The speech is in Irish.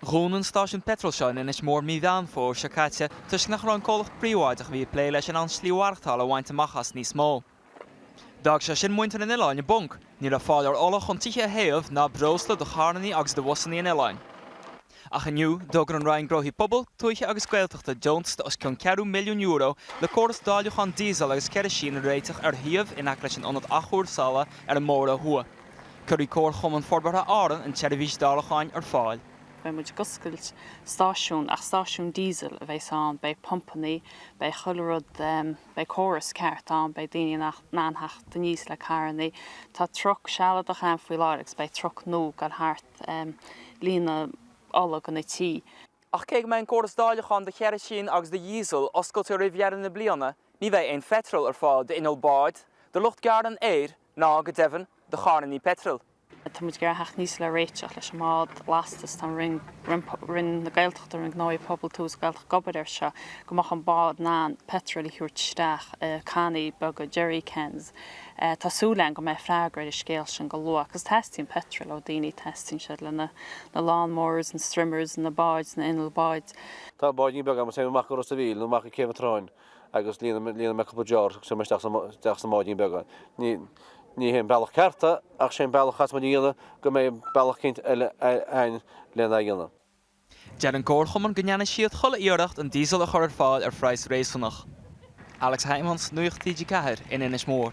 Dhún an stáisiún peitril seo in Inis Mór mí Mheán Fómhair seo caite toisc nach raibh an comhlacht príobháideach a bhí ag plé leis in ann slí mhaireachtála a bhaint amach as níos mó. D'fhág sé sin muintir an oileáin i bponc, ní raibh fáil ar ola chun tithe a théamh ná breosla do charranna agus do bhusannaí an oileáin. Ach inniu, d'fhógair an Roinn Gnóthaí Pobail, Tuaithe agus Gaeltachta deontas de os cionn ceathrú milliún euro le córas dáileacháin díosail agus ceirisín a réiteach ar shuíomh in aice leis an ionad athchúrsála ar an mBóthar a Thuaidh. Cuirfidh Comharchumann Forbartha Árann an tseirbhís dáileacháin ar fáil. Beidh muid ag oscailt stáisiún ach stáisiún diesel a bheas ann, beidh pumpannaí, beidh chuile rud, beidh córas ceart ann, beidh daoine in ann a theacht aníos le carrannaí. Tá truck sealadach ann faoi láthair agus beidh truck nua ag dul thart ag líonadh ola do na tithe. Ach cé go mbeidh an córas dáileacháin do cheirisín agus do dhíosal oscailte roimh dheireadh na bliana, ní bheidh aon pheitreal ar fáil d'innill báid, do lucht gearradh an fhéir, ná, go deimhin, do charrannaí peitril. Tá muid ag iarraidh a theacht aníos le réiteach leis an mbád lastais. Tá an Roinn na Gaeltachta, Roinn Gnóthaí Pobail, Tuaithe is Gaeltachta ag obair air seo, go mbeadh an bád in ann peitreal a thabhairt isteach i cannaí beaga, jerry cans. Tá súil againn go mbeidh freagra ar an scéal sin go luath, agus teastaíonn peitreal ó dhaoine, teastaíonn sé le na lawn mowers, na strimmers, na báid, na hinnill báid. Tá báidín beag agam, is téim amach go Ros a' Mhíl, nó amach go Céibh an tSrutháin. agus líonann mé cúpla deor agus cuireann mé isteach sa mbáidín beag é. Ní hé an bealach ceart é ach sé an bealach a chaithfeas muid a dhéanamh go mbeidh bealach eicínt eile a'inn lena dhéanamh. Deir an Comharchumann go ndéanfaidh siad chuile iarracht an díosal a chur ar fáil ar phraghas réasúnach. Alex Hijmans, Nuacht TG4, in Inis Mór.